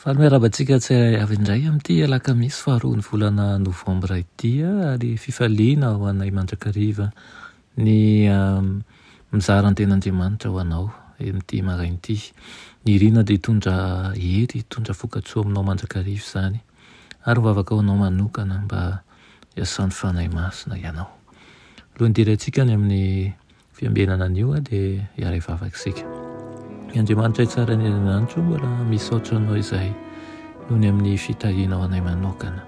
Faly miarahaba antsika tsy avy indray amin'ity alakamisy faharoan'ny volana novambra ity ary fifaliana ho anay mandrakariva ny mizara ny ten'Andriamanitra ho anao amin'ity maraina ity. Ny irina dia hitondra hery, hitondra vokatsoa aminao mandrakariva izany ary mivavaka ho anao manokana mba hiasan'ny Fanahy Masina ianao. Alohan'ny hidirantsika any amin'ny Fiambenana anio a dia hiara hivavaka isika. Ny Andriamanitray tsara ny erinanitro mbola misaotra anao izay noho ny amin'ny fitahianao anay manokana.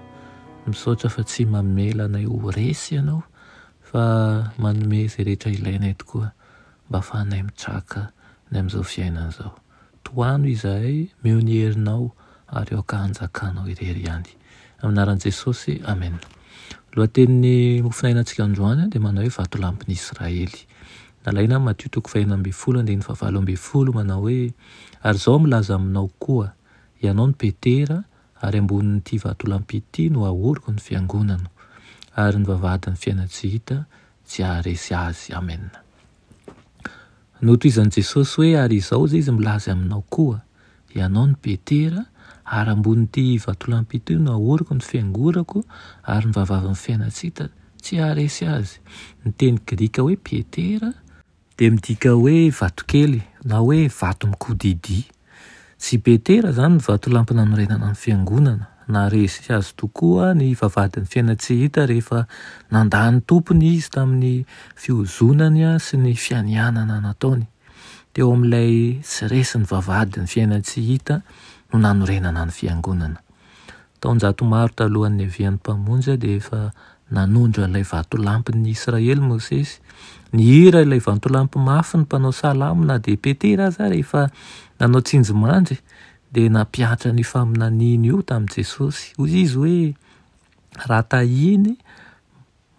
Misaotra fa tsy mamela anay ho resy ianao fa manome izay rehetra ilainay tokoa mba hafahanay mitraka ny amin'izao fiainana izao. Tohano izahay meo ny herinao ary aoka hanjakanao irery ihany. Amin'ny anaran'i Jesosy, Amen. Lohatenin'ny mofonainantsika androany dia manao hoe Vatolampin'i Israely. Nalaina amin'ny Matio toko fahenina ambin'ny folo andininy fahavalo ambin'ny folo manao hoe, Ary izao milaza aminao koa, Ianao no Petera, ary ambonin'ity vatolampy ity no hahoriko ny fiangonana, ary ny vavahadin'ny fiaina tsy hita tsy haharesy azy. Amen. Notohizan'i Jesosy hoe, Ary izao izay izy milaza aminao koa, Ianao no Petera, ary ambonin'ity vatolampy ity no hahoriko ny fiangorako, ary ny vavavan'ny fiainana tsy hita tsy haharesy azy. Ny teny grika hoe Petera dia midika hoe vatokely na hoe vato mikodidia. Tsy Petera izany ny vatolampy nanorenana ny Fiangonana. Naharesy azy tokoa ny vavahadin'ny fiainana tsy hita rehefa nandà ny Tompony izy tamin'ny fihozonany sy ny fianianana nataony. Teo amin'ilay tsy resin'ny vavahadin'ny fiainana tsy hita no nanorenana ny Fiangonana. Taonjato maro talohan'ny niavian'ny Mpamonjy dia efa nanondro an'ilay vatolampin'ny Israely Mosesy. Nihira ilay vatolampy mafy ny mpanao salamo na dia Petera aza ary efa nanao tsinjomandry dia nampiantra an'io faminaniana io tamin'i Jesosy. Hoy izy hoe, Raha tahiny,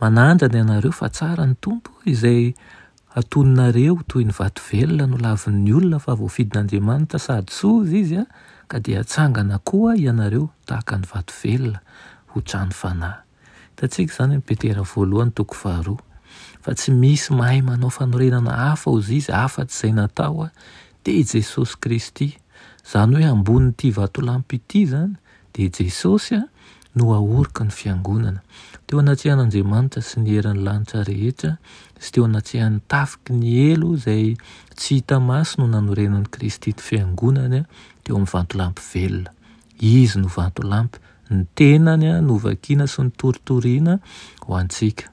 Manandra ny anareo fa tsara ny Tompo izay atoninareo toy ny vato velona no lavin'ny olona fa voafidin'Andriamanitra sady sova Izy a, ka dia hatsangana koa ianareo tahaka ny vato velona ho trano fanahy. Hitantsika izany amin'i Petera voalohany toko faharoa. Fa tsy misy mahay manao fanorenana hafa ozizy afatsy izay natao te i Jesosy Kristy. Izany hoe ambonin'ity vatolampy ity izany dia i Jesosy a, no haoriko ny fiangonana. Teo anatrehan'Andriamanitra sy ny herin'ny lanitra rehetra sy teo anatrehan'ny tafiky ny helo izay tsy hita maso no nanorenan'i Kristy ny fiangonany teo amin'ny vantolampy velona. Izy no vantolampy, ny tenany novakiana sy notoritoriana ho antsika.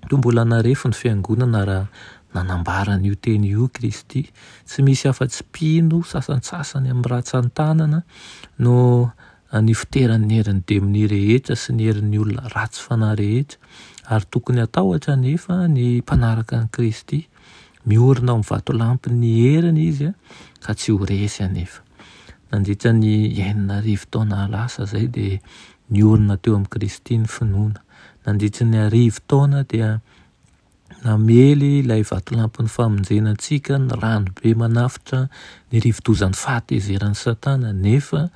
Toa mbola narefo ny Fiangonana raha nanambara an'io teny io Kristy. Tsy misy afa-tsy mpino sasantsasany amin'ny ratsan-tanana no nifoteran'ny herin'ny demony rehetra sy ny herin'ny olona ratsy fanahy rehetra, ary tokony hatahotra anefa ny mpanaraka an'i Kristy. Miorina ao amin'ny vatolampin'ny heriny izy ka tsy ho resy anefa. Nandritra ny enina arivo taona lasa izay dia niorina teo amin'i Kristy ny finoana. Nandritry ny arivo taona dia namely ilay vatolampin'ny famonjena antsika ny ranobe manafotra ny rivo-dozan'ny fahatezeran'i Satana, nefa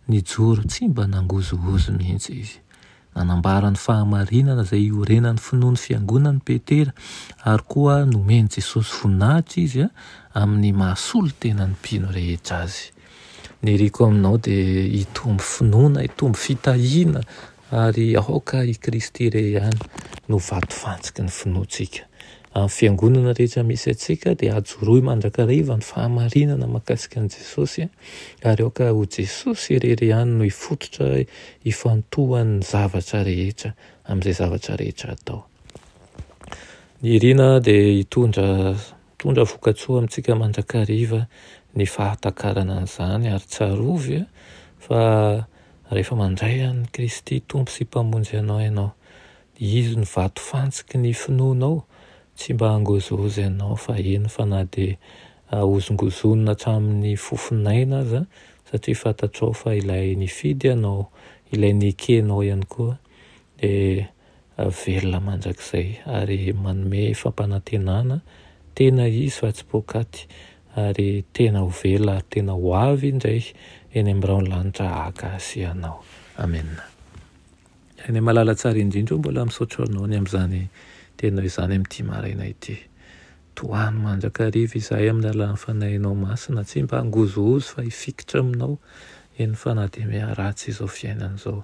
nijoro tsy mba nangozohozo mihitsy izy. Nanambara ny fahamarinana izay iorenan'ny finoan'ny Fiangonana i Petera, ary koa nomen'i Jesosy voninahitra izy amin'ny maha solontenan'ny mpino rehetra azy. Ny iriko aminao dia hitombo finoana, hitombo fitahiana ary aoka i Kristy irery ihany no vato fantsiky ny finoantsika. Amin'ny fiangonana rehetra misy antsika dia ajoroy mandrakariva ny fahamarinana mahakasika an'i Jesosy ary aoka ho Jesosy irery ihany no hifototra ifantohan'ny zavatra rehetra amin'izay zavatra rehetra atao. Ny iriana dia hitondra Hitondra vokatsoa amintsika mandrakariva ny fahatakarana an'izany ary tsarovy fa rehefa mandray an'i Kristy Tompo sy Mpamonjy anao ianao, dia Izy no vato fantsiky ny finoanao, tsy mba hangozohozo ianao fa eny fa na dia hahozongozonina hatramin'ny fofon'aina aza satria fantatrao fa Ilay nifidy anao, Ilay nekenao ihany koa dia velona mandrakizay ary manome fampanantenana tena izy fa tsy poakaty ary tena ho velona ary tena ho avy indray eny amin'ny biraon'ny lanitra haka azy ianao. Amena. Renay malala tsara indrindra o, mbola misaotra anao ny amin'izany teninao izany amin'ity maraina ity. Tohano mandrakariva izahay amin'ny alalan'ny Fanahinao Masina, tsy mba hangozohozo fa hifikitra aminao eny fanademea ratsy izao fiainana izao.